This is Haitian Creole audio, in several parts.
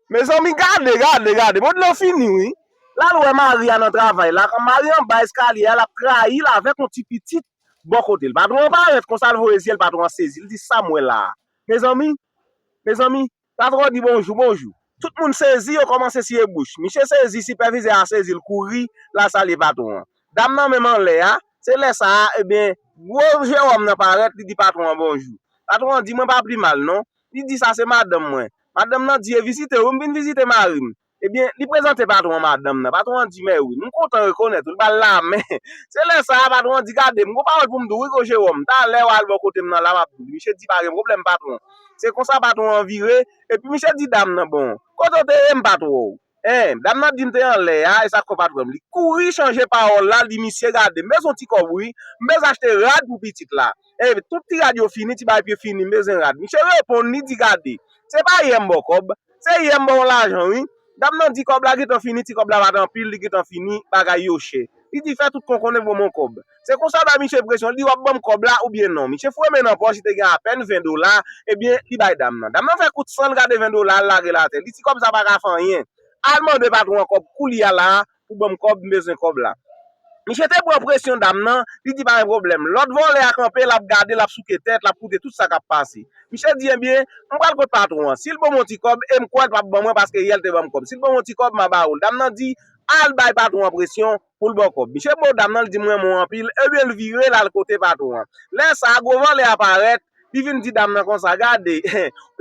Mezanmi gade gade gade mond lan fini wi lal wè mari a nan travay la mari anba eskalye a lap trayil avèk yon ti pitit bò kotel patron an parèt konsa l voye zyel patron an sezi li di sam wè la a mezanmi mezanmi patron an di bonjou bonjou tout moun sezi yo kòmanse siye bouch misye sezi sipèvizè a sezi l kouri lal salye patron an dam nan menm anlè a se lè sa a ebyen gwo Jérôme nan parèt li di patron an bonjou patron an di mwen pa plimal non Li di sa se madanm mwen. Madanm nan di e vizite w? Wi m vin vizite mari m. Ebyen, li prezante patwon an madanm nan. Patwon an di mèwi, m kontan rekonèt ou, li ba l lamen. Se lè sa a patwon an di gade m gon pawòl pou m di w wi gwo Jewòm, talè w al bò kote m nan la m ap di w. Misye di pa gen pwoblèm patwon. Se konsa patwon an vire, epi misye di dam nan bon, kote w te ye m pa t wè w. Hein dam nan dim te anlè a esa kò pat vwèm li kouri chanje pawòl la li misye gade m bezwen ti kòb wi m bezwen achte rad pou pitit la hein tout ti rad yo fini ti bagay pye fini m bezwen rad misye reponn li di gade se pa yè m baw kòb se yè m baw lajan wi dam nan di kòb la gentan fini ti kòb la pat anpil li gentan fini bagay yo chè li di fè tout konkonne voman w kòb Se konsa w bay misye presyon, li di w ap ban m kòb la oubyen non. Misye fouye men nan pòch, li te gen apèn 20 dola, ebyen, li bay dam nan. Dam nan fè kout san l gade 20 dola a, l lage l atè. Li ti kòb sa pa ka fè anyen. Al mande patwon an kòb koulye a la a pou ban m kòb, m bezwen kòb la. Misye te pran presyon dam nan, li di pa gen pwoblèm. Lòt vòlè a kanpe, l ap gade, l ap souke tèt, l ap koute tout sa k ap pase. Misye di ebyen, m pral kot patwon an. Si l ban m yon ti kòb, e m kwè l p ap ban mwen paske yè l te ban m kòb. Si l ban m yon ti kòb, m a ba ou l. Dam nan di, al bay patwon an presyon, poul baw kòb. Misye baw dam nan li di m renmen w anpil ebyen l vire l al kote patwon an. Lè sa a gwo vòlè a parèt li vin di dam nan konsa gade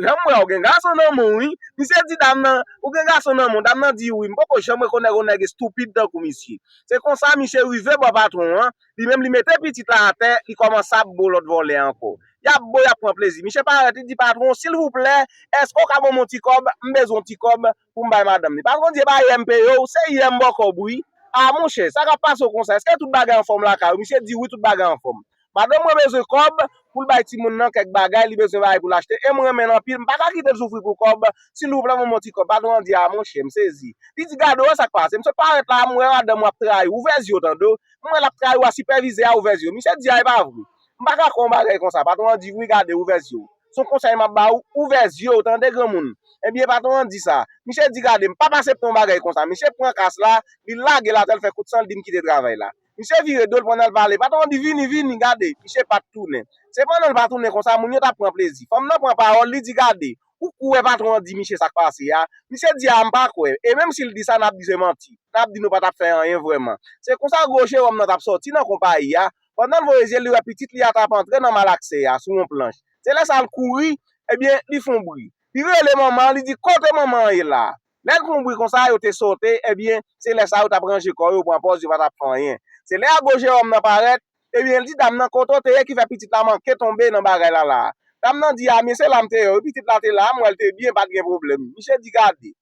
janm wè w gen gason nan menw wi misye di dam nan ou gen gason nan menw dam nan di wi m poko janm rekonèk yon nèg estupid tankou misye. Se konsa misye rive bò patwon an li menm li mete pitit la atè li kòmanse ap bo lòt vòlè ankò. Yap bo yap pran plezi misye parèt li di patwon silvouplè èske w ka banm yon ti kòb m bezwen yon ti kòb poum bay madanm li pa kondye ba yèm peyew ou se yèm bòkò bou wi ah monchè sa kap pasew konsa eske tout bagay anfòm lakay ou misye di wi tout bagay anfòm madanm mwen bezwen kòb poul bay timoun nan kèk bagay li bezwen bagay poul achte em renmenl anpil m paka kitel soufri pou kòb silvouplè banm yon ti kòb patron an di ah monchè m sezi li di gade wè sak pase m sot parèt la m wè madanm ou ap trayiw ouvè zyew tande w m wè lap trayiw a sipèvizè a ouvè zyew misye di ah epa vre M pa ka kwè yon bagay konsa. Patwon an di, Wi gade, ouvè zye w. Se yon konsèy m ap ba ou, ouvè zye w tande granmoun. Ebyen patwon an di sa. Misye di gade m pap asepte yon bagay konsa. Misye pran kas la, li lage l atè l fè kout san l di m kite travay la. Misye vire do l pandan l pale. Patwon an di, Vini, vini, gade. Misye pa t tounen. Se pandan l pa tounen konsa moun yo t ap pran plezi. Fanm nan pran pawòl, li di gade, ou kwè patwon an di misye sa k pase a? Misye di a m pa kwè. E menm si l di sa n ap di se manti. N ap di nou pa t ap fè anyen vrèman. Se konsa gwo jewòm nan t ap sòti nan konpayi a. Pandan l voye zye l, li wè pitit li a t ap antre nan malakse a sou yon planch. Se lè sa a l kouri, ebyen, li fon bri. Li rele manman an, li di, Kote manman an ye la a? Lè l fon bri konsa, yo te sote, ebyen, se lè sa a yo t ap ranje kò yo, pran pòz yo pa t ap fè anyen. Se lè a gwo Jewòm nan parèt, ebyen, l di dam nan, Kote w te ye ki fè pitit la manke tonbe nan bagay la la a? Dam nan di, A men, se la m te ye wi, pitit la te la a, m wè l te byen, pa t gen pwoblèm. Misye di, Gade.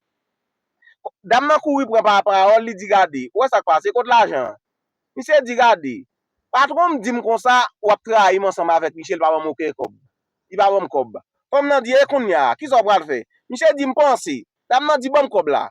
Dam nan kouri pran pa pawòl, li di, Gade, ou wè sa k pase, kot lajan an? Misye di gade, patwon m di m konsa w ap trayi m ansanm avèk li, Shell pa ban m oken kòb. Li pa ban m kòb. Fanm nan di, e kounya, kisa w pral fè? Misye di, m panse. Dam nan di, ban m kòb la.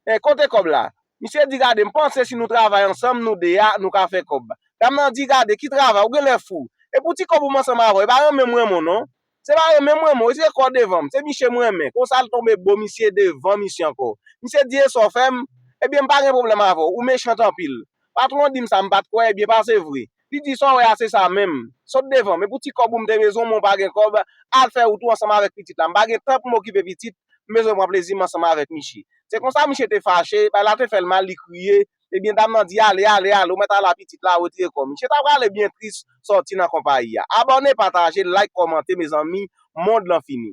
E, kote kòb la? Misye di, gade, m panse si nou travay ansanm, nou de a, nou ka fè kòb. Dam nan di, gade, ki travay, ou genlè fou. E pou ti kòb ou m ansanm avè w, e pa renmen m renmen w non. Se pa renmen m renmen w, se kò devan m. Se miche m renmen. Konsa l tonbe bo misye devan misye ankò. Misye di e sa w fè m? Ebyen m pa gen pwoblèm avè w, ou mechant anpil. Patwon di m sa m pa t kwè, ebyen pase vre. Li di sa w wè a se sa menm. Sot devan m. E pou ti kòb ou m te bezwen men w pa gen kòb, al fè wout ou ansanm avèk pitit la. M pa gen tan pou m okipe pitit, m bezwen pran plezi m ansanm avèk miche. Se konsa miche te fache, bagay la te fè l mal, li kriye, Ebyen dam nan di ale ale ale ou mèt al a pitit la retire kò misye ta prale byen tris sòti nan konpayi a. Abòne pataje like kòmante mezanmi mond lan fini.